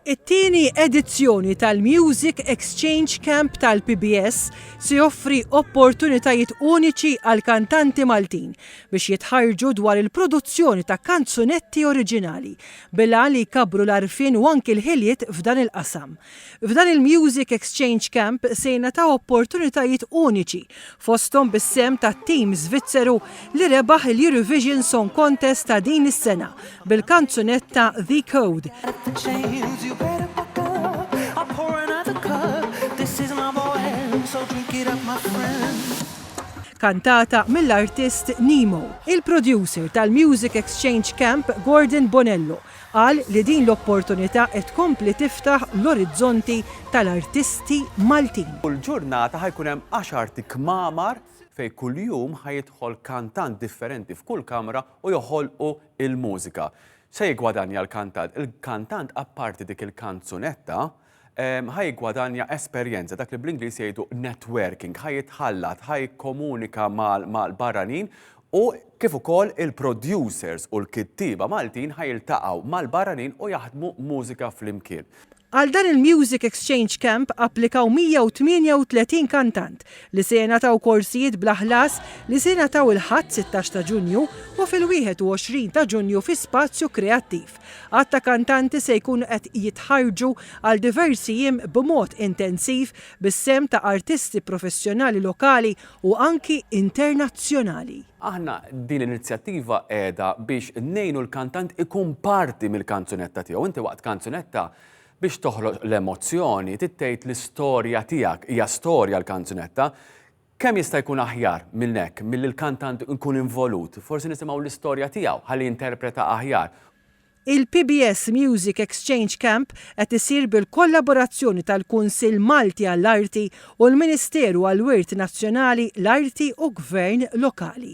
It-tieni edizzjoni tal-Music Exchange Camp tal-PBS se joffri opportunitajiet uniċi għall-kantanti Maltin biex jitħarrġu dwar il-produzzjoni ta' kanzunetti oriġinali bil-għan li jkabbru l-għarfien u anki l-ħiliet f'dan il-qasam. F'dan il-Music Exchange Camp se jingħataw opportunitajiet uniċi fosthom bis-sehem tat-tim Żvizzeru li rebaħ il-Eurovision Song Contest ta' din is-sena bil-kanzunetta The Code. kantata mill-artist Nemo. Il-producer tal-Music Exchange Camp, Gordon Bonello, Qal li din l-opportunità qed tkompli tiftaħ l-orizzonti tal-artisti Maltin. Kull ġurnata ħa jkun hemm għaxart kmamar fejn kuljum ħa jidħol kantant differenti f'kull kamra u joħolqu l-mużika. X'se jiggwadanja l-kantant? Il-kantant apparti dik il-kanzunetta, ħa jiggwadanja esperjenza, dak li bl-Ingliż jgħidu networking, ħa jitħallat, ħa jikkomunika mal-barranin u kif ukoll il-producers u l-kittieba Maltin ħa jiltaqgħu mal-barranin u jaħdmu mużika flimkien. Għal dan il-Music Exchange Camp applikaw 138 kantant li se jingħataw korsijiet bla ħlas li se jingħataw il-Ħadd 16 ta' Ġunju u fil-21 ta' Ġunju fi Spazju Kreattiv. Għadd ta' kantanti se jkunu qed jitħarrġu għal diversi jiem b'mod intensiv bis-sehem ta' artisti professjonali lokali u anki internazzjonali. Aħna din l-inizjattiva qiegħda biex ngħinu l-kantant ikun parti mill-kanzunetta tiegħu. Inti waqt kanzunetta biex toħloq l-emozzjoni trid tgħid l-istorja tiegħek. Hija storja l-kanzunetta. Kemm jista' jkun aħjar minn hekk milli l-kantant ikun involut, forsi nisimgħu l-istorja tiegħu ħalli jinterpreta aħjar. Il-PBS Music Exchange Camp qed isir bil-kollaborazzjoni tal-Kunsill Malti għall-Arti u l-Ministeru għall-Wirt Nazzjonali, l-Arti u Gvern Lokali.